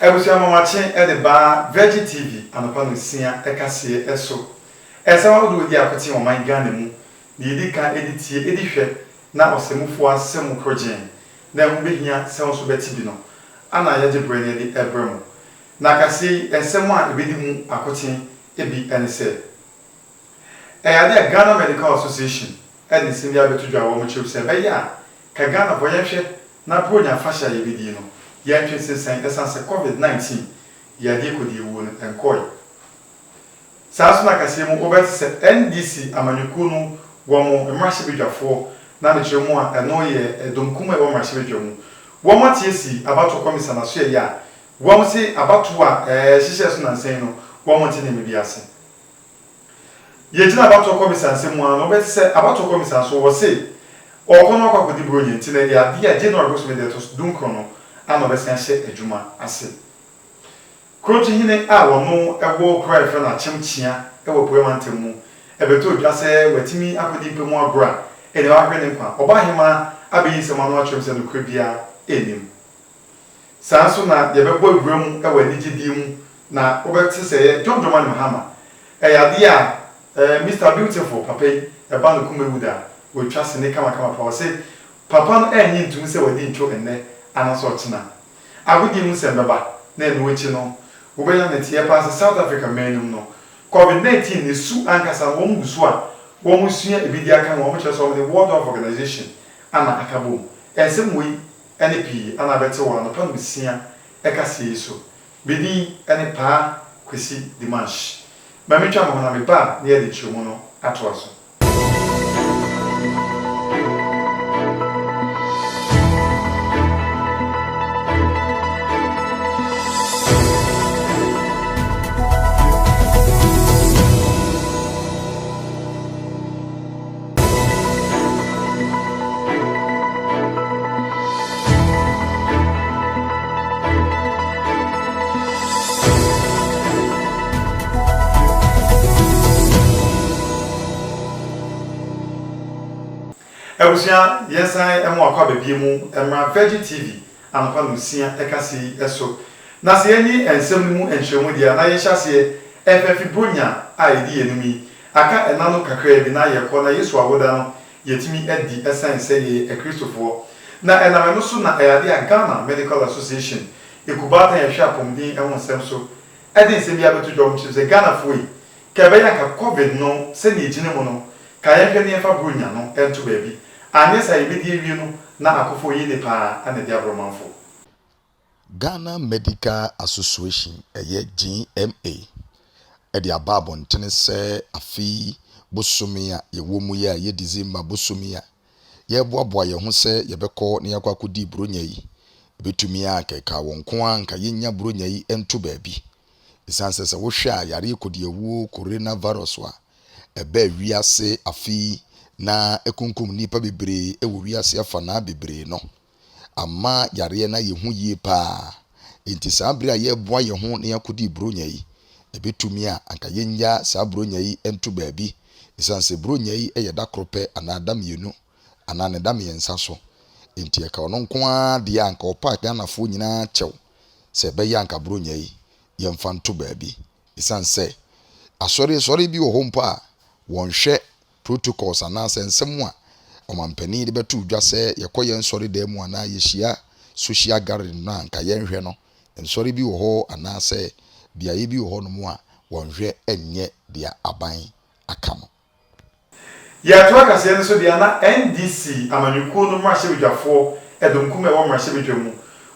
Abusua nwanwakye de ba Virgin TV anɔpa nonsia kaseɛ so. Ɛsaw ahodoɔ di ako te ɔman Ghana mu, deɛ ɛdi kan ɛde tie, ɛdi hwɛ na ɔsamufoɔ asɛm mu korɔgyeen na ɛho bɛhia sɛ wo nso bɛte bi no ana yɛagye berɛ na yɛde rebrɛ mo. Na kaseɛ yi nsɛm a ɛbɛdi mu akoten bi ne sɛ, Ɛyɛ adeɛ a Ghana Medical Association de nsɛm bi abɛto dwa a wɔkyerɛm sɛ ɛbɛyɛ a Ka Ghana bɔ yɛnhwɛ na Bronya afahyɛ a yɛbɛdie no yɛntwe nsensɛn ɛsane sɛ covid 19 yadeɛ kɔdie wuo no nkɔɔe saa nso na kaseɛ mu wobɛte sɛ NDC amanyɔkuo no wɔn mmarahyɛbadwafoɔ na mekyerɛ mu a ɛno yɛ ɛdɔm kumaa a ɛwɔ mmarahyɛbadwa mu wɔn ate asi abatoɔ kɔmisa na so yɛ yɛ a wɔn se abatoɔ a ɛhyehyɛɛ so nansa yi no wɔn nte nneɛma bi ase. Yɛgyina abatoɔ kɔmisa nsɛm mu ara no, wobɛte sɛ abatoɔ kɔmisa nso wɔse ɔɔkɔ na wakɔ akɔdi Buronya nti na ɛyɛ adeɛ a January bosome da ɛtɔso dunkron no ara na ɔbɛsan ahyɛ adwuma ase. Krɔnkyehene a ɔno wɔ kuro a yɛfrɛ no Akyem Kyea wɔ Apueɛ Mantam mu bɛtɔɔ dwa sɛ watumi akɔdi mpa mu agorɔ a ɛnneɛ wahwere ne nkwa. Ɔbaahemaa abɛyi nsɛm ano akyerɛm sɛ nokorɛ biara nnim. Saa nso na yɛbɛbɔ abura mu wɔ anigyedie mu na wobɛte sɛ ɛyɛ Dwom Dwom Anim Hama. Ɛyɛ adeɛ a eh, Mister Beautiful, papa yi, ɛba ne koma awu da a, watwa sini kamakama paa. Ɔse papa no ɛnnye ntumi sɛ wadi ntwo ɛnnɛ anaasɛ ɔkyena. Agodie mu nsɛm bɛba na ɛno akyi no, wobɛnya ne nteɛ paa sɛ South Africa man no mu no, Covid 19 no su ankasa no wɔn gu so a wɔresua ebi de aka ho a wɔkyerɛ sɛ wɔn ne World Health Organization ana aka bom. Ɛnsɛm wei. ne pii a na abɛte wɔ anɔpa nsia kaseɛ yi so. Me din ne Paa Kwesi Dimanche. Ma mentwa me ho na meba a na yɛde nkyerɛmu no atoa so. Abusua, yɛnsan mo akɔ aba bio mu mmra Virgin TV anɔpa nonsia ɛkasa yi so. Na sɛ yɛnye nsɛm no mu nkyerɛmu deɛ a na yɛhyɛ aseɛ ɛfa afi Buronya a ɛdi yɛn anim yi Aka nna no kakraa bi na yɛkɔ na Yesu awoda no yɛtumi adi ɛsiane sɛ yɛyɛ akristofoɔ. Na ɛnam ɛno so na ɛyɛ adeɛ a Ghana Medical Association ekubaatan a ɛhwɛ apɔmuden ho nsɛm so de nsɛm biara bɛto dwa. Wɔkyerɛ mu sɛ, Ghanafoɔ yi, ka ɛbɛyɛ anka Covid no sɛdeɛ ɛgyina mu no, ka yɛnhwɛ na yɛmfa Buronya no nto baabi. Anyɛ saa a yɛbɛdi awie no na akofoɔ yie ne paa na ɛde aborɔmanfoɔ. Ghana Medical Association, ɛyɛ GMA, de aba abɔntene sɛ afe yi bosome a yɛwɔ mu yi a ɛyɛ December bosome a yɛreboaboa yɛn ho sɛ yɛbɛkɔ na yɛakɔ akɔdi Buronya yi, ɛbɛtumi a anka ɛkaa wɔn nko ara anka yɛnnya Buronya yi nto baabi. Ɛsiane sɛ sɛ wohwɛ a yareɛ kɔdiawuo coronavirus a ɛbaa wiase afe yi na ɛkunkum nnipa bebree wɔ wiase afanaa bebree no, amma yareɛ no ayɛ hu yie paa. Enti saa berɛ a yɛreboa yɛn ho na yɛakɔdi Buronya yi, ɛbɛtumi a anka yɛnnya saa Buronya yi nto baabi, ɛsiane sɛ Buronya yi yɛ da koro pɛ anaa da mmienu anaa ne da mmiɛnsa so. Enti ɛka ɔno nko ara deɛ a anka ɔpa Ghanafoɔ nyinaa kyɛw sɛ ɛbɛyɛ anka Buronya yi yɛmfa nto baabi, ɛsiane sɛ asɔresɔre bi wɔ hɔ mpo a wɔnhwɛ Protocols anaasɛ nsɛm a ɔmampanin de bɛto dwa sɛ yɛkɔ yɛn nsɔredan mu anaa yehyia social gathering no a anka yɛnhwɛ no, nsɔre bi wɔ hɔ anaasɛ beaeɛ bi wɔ hɔnom a wɔnhwɛ nyɛ deɛ aban aka no. Yɛato akaseɛ no so deɛ na NDC amanyɔkuo no mmarahyɛbadwafoɔ dɔmkumaa a ɛwɔ mmarahyɛbadwa mu,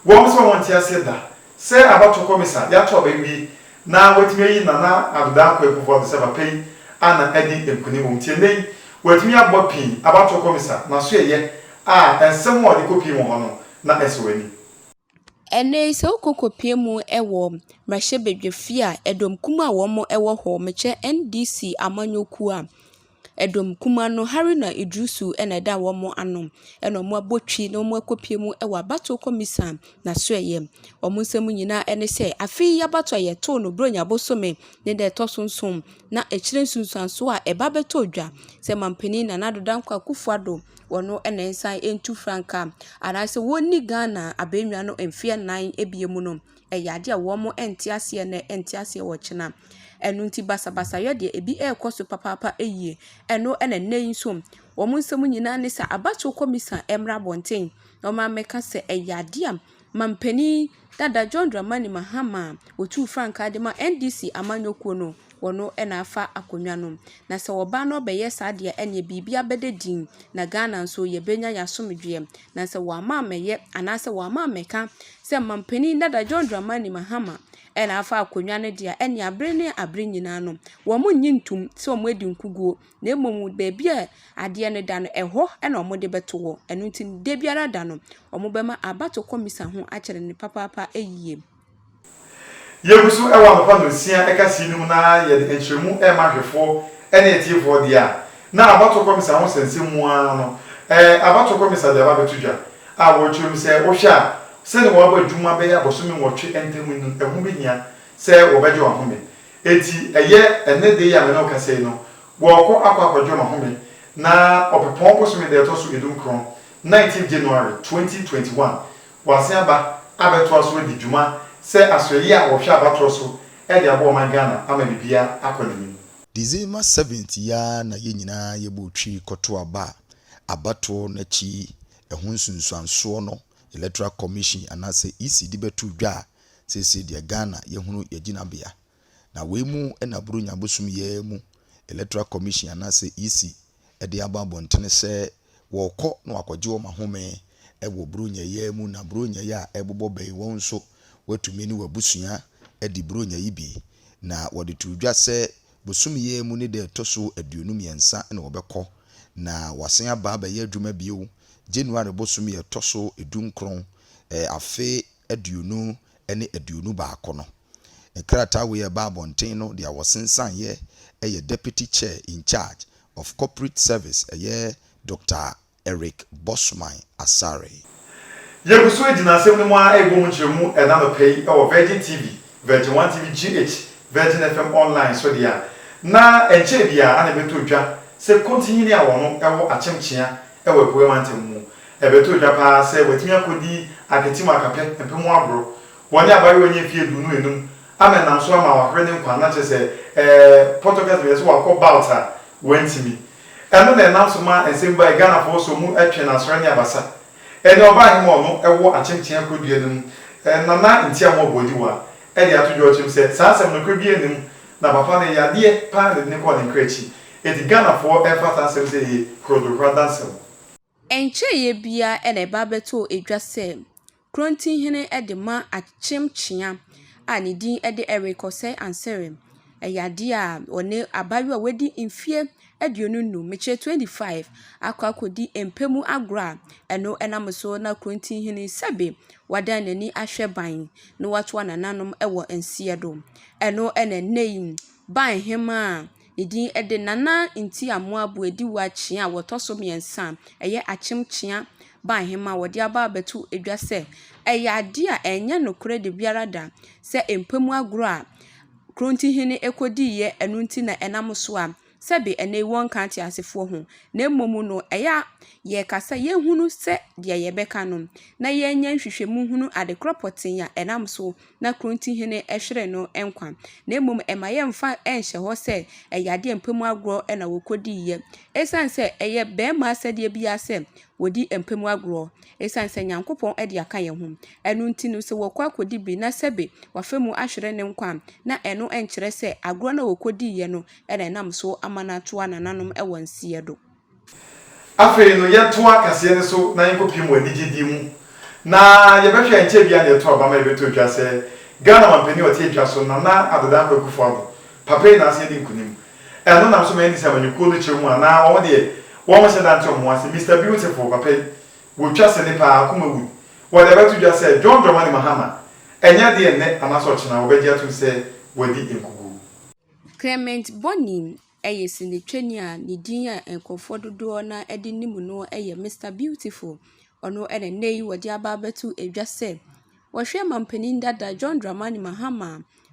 wɔn nso a wɔnte aseɛ da Sɛ abatow kɔmisa de ato aba awie na wɔatumi ayi Nana Addo Dankwa Akuffo Addo sɛ papa yi a na adi nkonim wom nti ɛnnɛ yi wɔatumi abɔ pii abatow kɔmisa na so ɛyɛ a nsɛm a ɔde kɔpie mu hɔ no na ɛsɔ w'ani? Ɛnnɛ yi sɛ wokɔ kɔpie mu wɔ mmarahyɛbadwafie a ɛdɔm kumaa a wɔwɔ hɔ mekyɛ NDC amanyɔkuo a, Ɛdɔm kumaa no, Haruna Iddrisu na ɛda wɔn ano, ɛna wɔabɔ twi na wɔakɔpue mu wɔ abato kɔmisa n'asoɛeɛ mu. Wɔn nsɛm nyina ne sɛ, afe yi abato a yɛtoo no Buronya bosome ne da ɛtɔ so nson, na ɛkyerɛ nsunsuansoɔ a ɛba bɛtɔ dwa sɛ mampanin Nana Addo Dankwa Akufo Addo, ɔno na ɛnsan ntu frankaa anaasɛ ɔnni Ghana abɛnnwa no mfeɛ nnan bio mu no. ɛyɛ ade a wɔn nte aseɛ nnɛ nte aseɛ ɔkyena. Ɛno nti basabasayɛ deɛ ebi ɛkɔ so papaapa yie. Ɛno na nnɛ yi nso wɔn nsɛm nyinaa ne sɛ abatoɔ kɔmisa mmra abɔnten na wɔn abɛka sɛ ɛyɛ ade a manpanin dada John Dramani Mahama a ɔtuu frankaa de ma NDC amanyɔkuo no. wɔ no na afa akonnwa no mu. Na sɛ ɔbaa no bɛyɛ saa deɛ ɛneɛ biribi abɛda din na Ghana nso yɛbɛnya yɛn asomdwoeɛ. Na sɛ wɔamma ammɛyɛ anaa sɛ wɔamma ammɛka sɛ mampanin dada John Dramani Mahama na afa akonnwa no deɛ a ɛneɛ abere ne abere nyinaa no wɔnnye ntom sɛ wɔadi nkuguo na mmom baabi a adeɛ no da no ɛhɔ na wɔde bɛto hɔ. Ɛno nti dabiara da no wɔbɛma abatoɔ kɔmisa ho akyere no papaapa yie. Yegu so wɔ anɔpa nnɔnsia ɛka sii no mu na yɛde nkyerɛmu rema ahwɛfoɔ ne atiefoɔ deɛ a na abatoɔ kɔmisa ho sɛnsɛm mu ara no ɛɛ abatoɔ kɔmisa de aba abɛto dwa a wɔrekyerɛ mu sɛ wohwɛ a sɛdeɛ wɔabɔ adwuma bɛyɛ abosome nwɔtwe ntam yi no ɛho bɛhia sɛ wɔbɛgye wɔn ahome enti ɛyɛ ɛnnɛ da yi a me ne wo kasa yi no wɔrekɔ akɔ akɔgye wɔn ahome na ɔpɛpɔn bosome da ɛtɔ so edunkron, nineteenth January, twenty twenty one. Wɔasen aba abɛtoa so adi dwuma sɛ asoɛyɛ a wɔhwɛ abatoɔ so de aboa ɔman Ghana ama biribiara akɔ n'anim. December seventh yi ara na yɛn nyinaa yɛbɔɔ twi kɔtoo aba a abatoɔ no akyi ɛho nsunsuansoɔ no Electoral Commission anaasɛ EC de bɛtoo dwa a seesei deɛ Ghana yɛhunu yɛn gyinabea. Na wei mu na Buronya bosom yi ara mu Electoral Commission anaasɛ EC de aba abɔntene sɛ wɔrekɔ na wɔakɔgye wɔn ahome wɔ Buronya yi ara mu, na Buronya yi a ɛrebobɔ bɛn wɔn nso, woatumi ne w'abusua adi Buronya yi bi. Na wɔde too dwa sɛ bosome yi ara mu ne da a ɛtɔ so aduonu mmiɛnsa na wɔbɛkɔ, na wɔasan aba abɛyɛ adwuma bio January bosome a ɛtɔ so du nkron afe aduonu ne aduonu baako no. Nkrataa wei a ɛbaa abɔnten no deɛ wɔsensaneeɛ yɛ Deputy Chair in Charge of Corporate Service, ɛyɛ Doctor Eric Bossman Asare. Yɛgu so gyina asɛm no mu ara rebɔ mu nkyerɛmu ɛna anɔpa yi wɔ Virgin TV, Virgin One TV GH, Virgin FM Online so deɛ a, na ɛnkyɛɛ biara na ɛbɛtɔ dwa sɛ Kontinyi ne Awɔno wɔ Akyem Kyea wɔ Apueɛ Mantam mu. Ɛbɛtɔ dwa pa ara sɛ watumi akɔdi ahwete mu akapɛ mpem aboro. Wɔ ne abayewa nyɛ mfeɛ aduonu enum ama ɛnam so ama wahwere ne nkwa nna kyerɛ sɛ ɛɛ Portuguese bɛyɛ sɛ wakɔ bout a wantumi. Ɛno na ɛnam so maa nsɛm bae Ghanafoɔ sɔ mu twe no asrɛ ne abasa. Ɛnɛ ɔbaa he ma ɔno wɔ akyemkyea kɔdua no mu na na ntia ho aboadiwa de ato dwa ɔkyerɛm sɛ saa asɛm nokorɛ biara nni mu na papa no yadeɛ pa ara na ɛde no kɔɔ ne nkra akyi. Enti Ghanafoɔ mfa saa asɛm sɛ ɛyɛ korodokoro adansɛm. Ɛnkyɛeɛ biara na ɛba bɛtɔɔ dwa sɛ Krontinhene de ma akyem kyea a ne din de Eric Osei Ansere. Ɛyɛ adeɛ a ɔne abaayewa a wadi mfeɛ aduonu nnum, mekyerɛ 25, akɔ akɔdi mpɛ mu agorɔ a ɛno nam so na Krontinhene yi sɛbe wadan n'ani ahwɛ ban na watoa nananom wɔ nseɛ do. Ɛno na ɛnnɛ yi Ban Hemaa Edin de Nana Nti-Amoabu Adiwo akyea a wɔtɔ so mmiɛnsa a ɛyɛ akyem kyea baa he ma wɔde aba abɛto dwa sɛ ɛyɛ adeɛ a ɛnyɛ nokorɛ da biara da sɛ mpa mu agorɔ a Kronti-hene kɔdiiɛ ɛno nti na ɛnam so a sɛbe ɛnnɛ yi wɔnka ateasefoɔ ho na mmom no ɛyɛ a yɛka sɛ yɛhunu sɛ deɛ yɛbɛka no na yɛnyɛ nhwehwɛmu hunu adekorɔ pɔtee a ɛnam so na kuro nti hene hwere no nkwa, na mmom ɛma yɛmfa nhyɛ hɔ sɛ ɛyɛ adeɛ a mpa mu agorɔ na wɔkɔdiiɛ. Ɛsiane sɛ ɛyɛ barima asɛdeɛ biara sɛ wɔdi mpa mu agorɔ, ɛsiane sɛ Nyankopɔn de aka yɛn ho, ɛno nti no sɛ wɔkɔ akɔdi bi na sɛbe wafa mu ahwere ne nkwa a, na ɛno nkyerɛ sɛ agorɔ no a wɔkɔdiiɛ no na ɛnam so ama no atoa nananom wɔ nseɛ do. Afei no, yɛntoa kaseɛ no so na yɛnkɔpiem wɔ anigyedie mu, na yɛbɛhwɛ a ɛnkyɛɛ biara na yɛtoo aba ma yɛbɛtoo dwa sɛ Ghana mampanin a ɔte atwa so, Nana Addo Dankwa Akufo-Addo, papa yi na asan adi nkunim. Ɛno nam so ma yɛnni sɛ amanyɔkuo no kyerɛ mu a na wɔn deɛ wɔnhyɛ da nte wɔn ho ase. Mister Beautiful, papa yi, wɔtwa sene pa ara, Akumawood, wɔde abɛto dwa sɛ John Dramani Mahama, ɛnyɛ adeɛ nnɛ anaasɛ ɔkyena wɔbɛgye atom sɛ wadi nkoguo. Clement Bonim Ɛyɛ sinitwani a ne din a nkurɔfoɔ dodoɔ no ara de nim no yɛ Mister Beautiful. Ɔno na nnɛ yi wɔde aba abɛto dwa sɛ ɔhwɛ manpanin dada John Dramani Mahama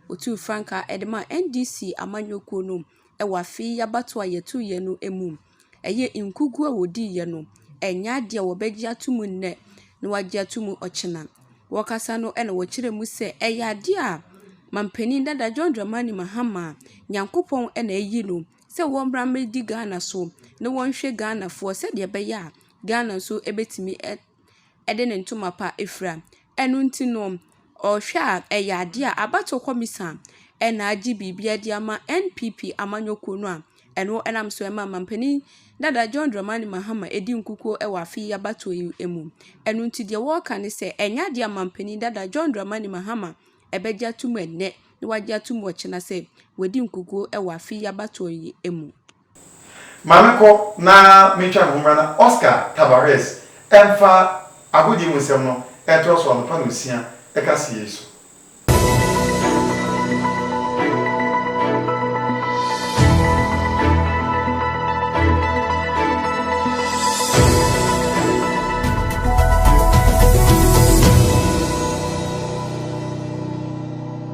a ɔtuu frankaa de maa NDC amanyɔkuo no wɔ afe yi abatoɔ a yɛtoeɛ no mu. Ɛyɛ nkuguo a wɔdiiɛ no, ɛnyɛ adeɛ a wɔbɛgye atom nnɛ. na wɔagye ato mu ɔkyena. Wɔkasa no na wɔkyerɛ mu sɛ ɛyɛ adeɛ a manpanin dada John Dramani Mahama a Nyankopɔn na ayi no sɛ wɔmmra mmɛdi Ghana so na wɔnhwɛ Ghanafoɔ sɛdeɛ ɛbɛyɛ a Ghana nso bɛtumi de ne ntoma pa afira. Ɛno nti no. Ɔhwɛ a, ɛyɛ adeɛ a abatoɔ kɔmisa na agye biribiara de ama NPP amanyɔkuo no a ɛno nam so ma mampanin dada John Dramani Mahama di nkukuo wɔ afe yi abatoɔ yi mu. Ɛno nti deɛ wɔreka ne sɛ, ɛnyɛ adeɛ a mampanin dada John Dramani Mahama bɛgye atom ɛnnɛ na wagye atom ɔkyena sɛ wadi nkukuo wɔ afe yi abatoɔ yi mu. Maame kɔ na mentwa ne ho mmra na Oscar Tabarez mfa agodie mu nsɛm no ntorɔ so anɔpa na ɔsia ɛka seɛ yi so.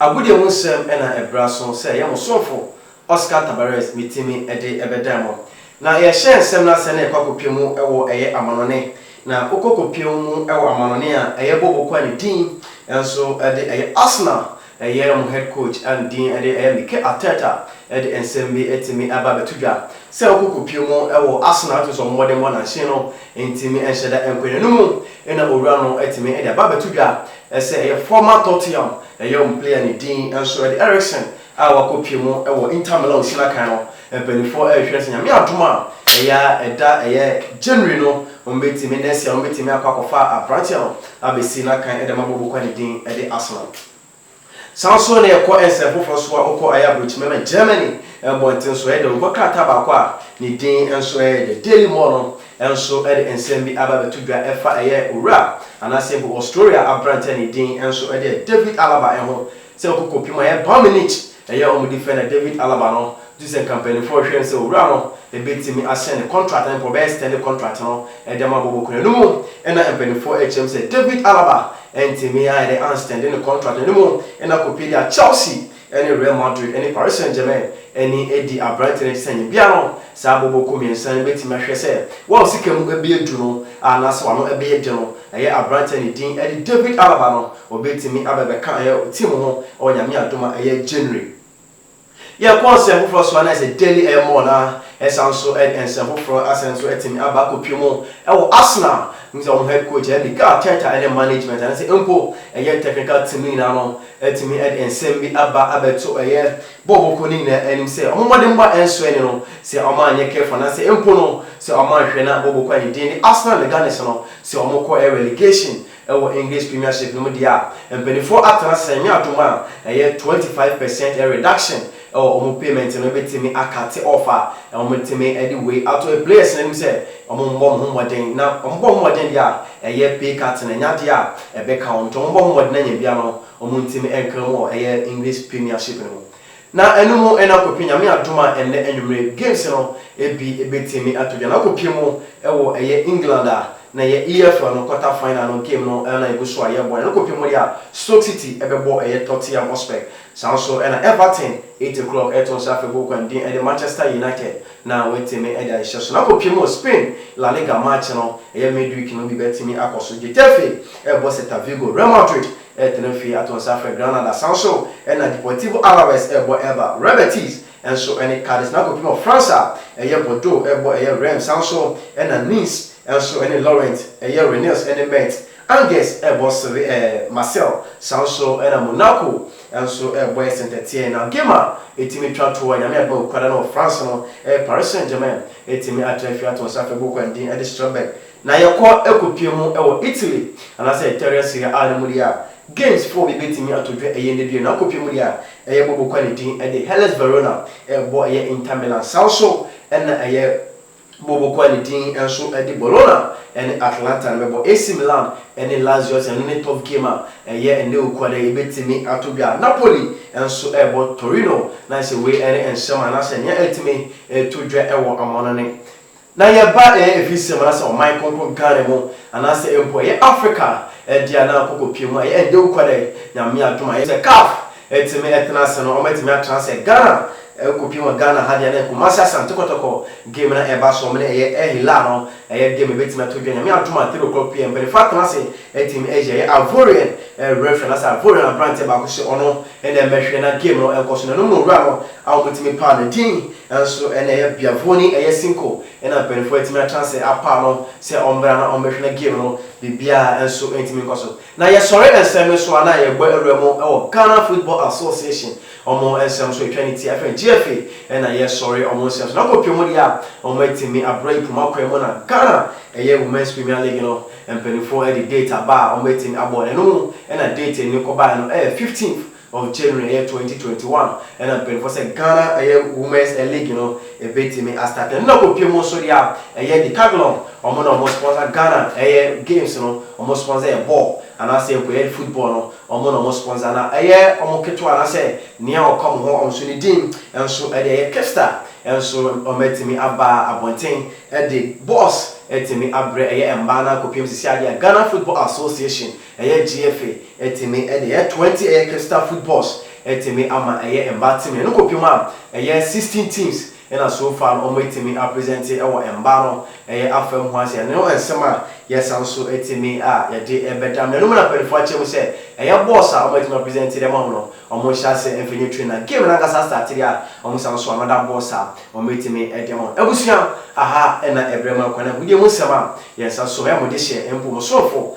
Agodie ho nsɛm na ɛbra so sɛ ɛyɛ mo somfo Oscar Tabarez me timi de bɛdan mo. Na yɛhyɛ nsɛm no asɛ na yɛkɔ akɔpie mu wɔ ɛyɛ amanɔne. Na wokɔ kɔpie mu wɔ amanɔne a ɛyɛ Bobo Kwan ne din nso de ɛyɛ Arsenal ɛyɛ mo head coach ne din de ɛyɛ Mike Arteta de nsɛm bi timi ba bɛto dwa sɛ wokɔ kɔpie mu wɔ Arsenal wotumi sɛ ɔmo mmɔdenbɔ nanhye no ntimi nhyɛ da nkɔ yɛn anomu. Ɛnna owura no tumi de aba abɛto dwa sɛ ɛyɛ Former Tottenham Home player ne din nso de Eriksen a wakɔpue mu wɔ Inter Milan Osinakan no. Mpanimfoɔ rehwɛ sɛ Nyame adom a, ɛyɛ a ɛda ɛyɛ January no wɔbɛtumi, next year no wɔbɛtumi akɔ akɔfa aberanteɛ no abɛsi n'akan de ama Maboko a ne din de Arsenal. Saa nso na ɛkɔ nsɛm foforɔ so a wokɔ ayɛ aburokyima ma Germany mmɔnten so ɛyɛ dɛ. Wokɔ krataa baako a ne din nso yɛ The Daily More no nso de nsɛm bi aba abɛto dwa ɛfa ɛyɛ owura anaasɛ mpo Australia aberanteɛ a ne din nso yɛ David Alaba ho sɛ wokɔ kɔpem ayɛ Bayern Munich Ɛyɛ wɔn de fɛ na David Alaba no gye sɛ nka mpanyinfoɔ rehwɛ no sɛ owura no bɛtumi ahyɛn ne contract no mpo ɔbɛyɛ extend contract no de ama Boboku no ɛno mu na mpanyinfoɔ rekyerɛ mu sɛ David Alaba ntumi ayɛ dɛ anstɛnde ne contract no ɛno mu na kɔpie de a Chelsea ne Real Madrid ne Paris Saint Germain ani di aberanteɛ no akyi sɛ nyɛ biara no saa Boboku mmiɛnsa no bɛtumi ahwɛ sɛ wɔn sika mu bɛyɛ duru no anaasɛ wɔn ano bɛyɛ den no Ɛyɛ aberanteɛ ne din de David Alaba no ɔbɛtumi abɛbɛka ɛyɛ team ho wɔ Nyame adom a ɛyɛ January. Yɛkɔ nsɛm foforɔ so a na ayɛ sɛ daily ɛyɛ more na ɛsan nso ɛde nsɛm foforɔ asane nso atumi aba akɔpie mu ɛwɔ Arsenal. Wohu sɛ wɔn head coach ɛyɛ Mikel Arteta ɛne management anaa sɛ mpo ɛyɛ technical team no nyinaa no atumi ɛde nsɛm bi aba abɛto ɛyɛ bɔɔ wɔn kuo no nyinaa anim sɛ wɔn mmɔdenbɔ a ɛnsoɛ ne no, sɛ wɔanyɛ careful anaasɛ mpo no sɛ wɔanhwɛ na wɔbɔ kɔ a ne din de Arsenal ne Gunners no, sɛ wɔkɔ relegation wɔ English Premiership no mu deɛ a, mpaninfoɔ atena ase sɛ nyɛ adom a ɛyɛ twenty five percent reduction wɔ wɔn payment no bɛtumi akate off a wɔbɛtumi de wei ato players no anim sɛ wɔmmɔ wɔn ho mmɔden na wɔbɔ wɔn ho mmɔden deɛ a ɛyɛ pay cut no ɛnyɛ adeɛ a ɛbɛka wɔn nti wɔbɔ wɔn ho mmɔden anya bi ano Wɔn ntam nkra mu wɔ ɛyɛ English Premiership no mu. Na ɛno mu na kɔpɛ Nyame adom a ɛnnɛ anwumerɛ games no bi bɛtumi ato dwa na akɔpie mu wɔ ɛyɛ England a na ɛyɛ EFL no quarter final no game no na ɛgu so a yɛrebɔ na ɛno kɔpie mu deɛ a Stoke City bɛbɔ ɛyɛ Tottenham Hotspur. Saa nso na Everton eight o'clock ɛreto nsa afebɔɔ kwan din de Manchester United. Na watumi de ahyɛ so. Na kɔpem wɔ Spain La Liga match no ɛyɛ midweek no bi bɛtumi akɔ so. Getafe rebɔ Celta Vigo, Real Madrid retena fie ato nsa afrɛ Granada, saa nso na Deportivo Alaves rebɔ Elba, Real Betis nso ne Cadiz. Na kɔpem wɔ France a ɛyɛ Bordeaux rebɔ ɛyɛ Reims, saa nso na Nice nso ne Lorient, ɛyɛ Rennes ne Metz. Angers rebɔ Seve eh, Marseille saa nso na Monaco nso rebɔ eh, Saint Etienne na game a ɛtumi twa toɔ Nyame adom a Ɔkuada no wɔ France no eh, Paris Saint Germain ɛtumi atra fie ato nsa afei bɔkɔ ndin de Strasbourg na yɛkɔ ɛkɔpie mu wɔ Italy anaasɛ Italian Serie A no mu deɛ a games four bi bɛtumi ato dwa ɛyɛ ndɛ bio na akɔpie mu deɛ a ɛyɛ bɔ bɔkɔ ne din de Hellas Verona rebɔ ɛyɛ Inter Milan saa nso na ɛyɛ Bobo a ne din nso de Bologna ne Atalanta no bɛbɔ. AC Milan ne Lazio ase, ɛno ne top game a ɛyɛ ɛnnɛ Owukuada yi, ɛbɛtumi atɔ dwa. Napoli nso rebɔ Torino, na ayɛ sɛ wei ne nsɛm anaasɛ nea ɛretumi ɛretɔ dwa wɔ amanɔne. Na yɛba afisɛm anaasɛ ɔman kronkron Ghana mu, anaasɛ mpo ɛyɛ Africa deɛ a na akokɔ pie mu a ɛyɛ ɛnnɛ Owukuada yi, Nyame adom a ɛyɛ sɛ CAF Ɛtumi ɛtena ase no, wɔatumi atra ase Ghana, ɛkɔpie wɔ Ghana ha deɛ na Kumasi Asante Kɔtɔkɔ game no ɛba so, wɔn ne ɛyɛ Al Hilal no, ɛyɛ game ɛbɛtumi ato dwa Nyame adom a three o'clock pm, mpaninfoɔ atena ase atumi ayi ɛyɛ Ivorian referee anaasɛ Ivorian aberanteɛ baako sɛ ɔno na ɛmmɛhwɛ na game no nkɔ so, na ɛno mu na owura no a wɔtumi paa no din nso ne ɛyɛ Biavoni ɛyɛ Cinco na mpaninfoɔ atumi atra ase apaa no sɛ ɔmmra na ɔmmɛhwɛ na game no biribiara nso ntumi nkɔ so. Na yɛsɔre nsɛm no so a na yɛbɔ awura mu wɔ Ghana Football Association ɔmo nsɛm so etwa ne ti a yɛfrɛ no GFA na yɛsɔre ɔmo nsɛm so na kɔpie mu deɛ a ɔmo atimi abrɛ yi poma kwan mu na Ghana ɛyɛ Women's Premier League no mpaninfoɔ de date aba a ɔmo atimi abɔ na ɛno mu na date no kɔbaeɛ no ɛyɛ 15th Of January ɛyɛ twenty twenty one ɛna mpanyinfoɔ sɛ Ghana ɛyɛ women's ɛ league no ɛbɛtumi a start ɛno na kɔpie mu nso deɛ a ɛyɛ Decathlon wɔn na wɔn sponsor Ghana ɛyɛ games no wɔn sponsor yɛ ball anaasɛ mpo ɛyɛ football no wɔn na wɔn sponsor na ɛyɛ wɔn ketewa anaasɛ nea ɔka wɔn hɔ wɔn nso ne din nso ɛde ɛyɛ Kipsta nso wɔn atumi aba abɔnten ɛde balls atumi abrɛ ɛyɛ mmaa no akɔpie mu sisi adeɛ a Ghana Football Association Ɛyɛ GFA ɛtumi de ɛyɛ twenty ɛyɛ Crystal Footballs ɛtumi ama ɛyɛ mmaa team no ɛno kɔpem a ɛyɛ sixteen teams ɛna so far no wɔn ɛtumi apresent ɛwɔ mmaa no ɛyɛ afa mu hɔ asɛ ɛno no nsɛm a yɛsan nso ɛtumi a yɛde ɛbɛda mo anom na mpaninfoɔ akyerɛ mu sɛ ɛyɛ balls a wɔn ɛtumi apresent de ama mo no wɔn hyɛ asɛ ɛmfɛ nyɛ train na game no ankasa start deɛ a wɔn san nso another balls a wɔn ɛtumi ɛde ama mo abusua aha ɛna ɛbrɛ mo akwan na agudeɛ mu nsɛm a yɛn nsa so ɛyɛ mo de hyɛ mpo mo soronfo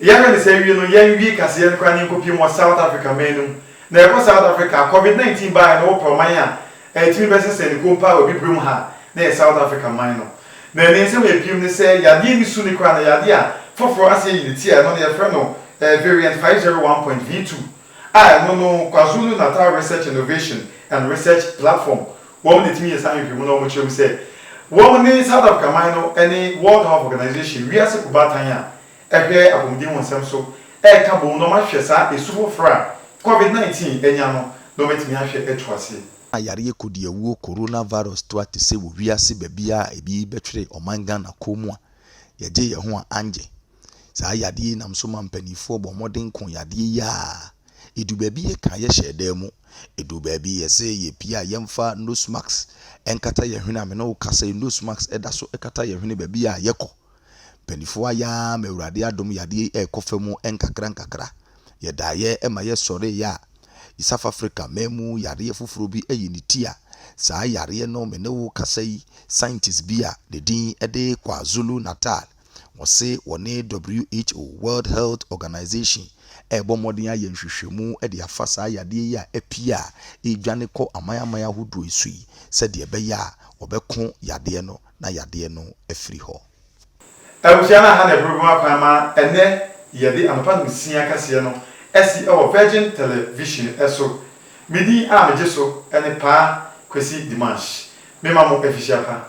Yɛhwɛ ne saa wie no, yɛn wie kaseɛ no koraa ne nkɔpiem wɔ South Africa man no mu. Na yɛkɔ South Africa a, Covid 19 baeɛ na wɔpɛ ɔman a ɛtumi bɛsɛ sɛ ne konpa wɔ Abibirem ha na ɛyɛ South Africa man no. Na ne nsɛm a ɛpiem ne sɛ yadeɛ no su no koraa na yadeɛ a foforɔ ase ayi ne ti a ɛno no yɛfrɛ no Variant 501.V2 a ɛno no Kwazulu Natal Research Innovation and Research Platform wɔn na ɛtumi yɛ saa nhwehwɛmu no a wɔkyerɛ mu sɛ wɔn ne South Africa man no ne World Health Organization, wiase kobaatan a hwɛ apɔmuden wɔ nsɛm so reka boom na wɔahwɛ saa esu foforo a Covid nineteen anya no na wɔatumi ahwɛ atu ase. A Yareɛ kodiawuo coronavirus to ate sɛ wɔ wiase baabiara a ebi bɛtwere ɔman Ghana kɔn mu a, yɛgye yɛn ho a angye. Saa yadeɛ yi nam so ma mpaninfoɔ bɔ mmɔden ko yadeɛ yi a ɛdu baabi yɛka yɛhyɛ dan mu, ɛdu baabi yɛse yɛpie a yɛmfa nose mask nkata yɛn hwene a me ne wo kasa yi nose mask da so kata yɛn hwene baabi a yɛkɔ. Mpaninfoɔ ayɛ ara ma Awurade adom yadeɛ yi rekɔ fa mu nkakra nkakra. Yɛdaeɛ ma yɛsɔreeɛ a, East Africa man mu yareɛ foforɔ bi ayi ne ti a saa yareɛ no me ne wo kasa yi scientist bi a ne din de Kwazulu Natal wɔse wɔne who World Health Organization ɛrebɔ mmɔden ayɛ nhwehwɛmu de afa saa yadeɛ yi a apue a ɛredwane kɔ aman aman ahodoɔ yi so yi sɛdeɛ ɛbɛyɛ a wɔbɛko yadeɛ no na yadeɛ no afiri hɔ. Abusua no aha na ɛbɛbɔ mu akwan ma ɛnnɛ yɛde anɔpa nsia kɛseɛ no asi wɔ Virgin Television so. Me din a megye so ne Paa Kwesi Dimanche. Me ma mo afihyia pa.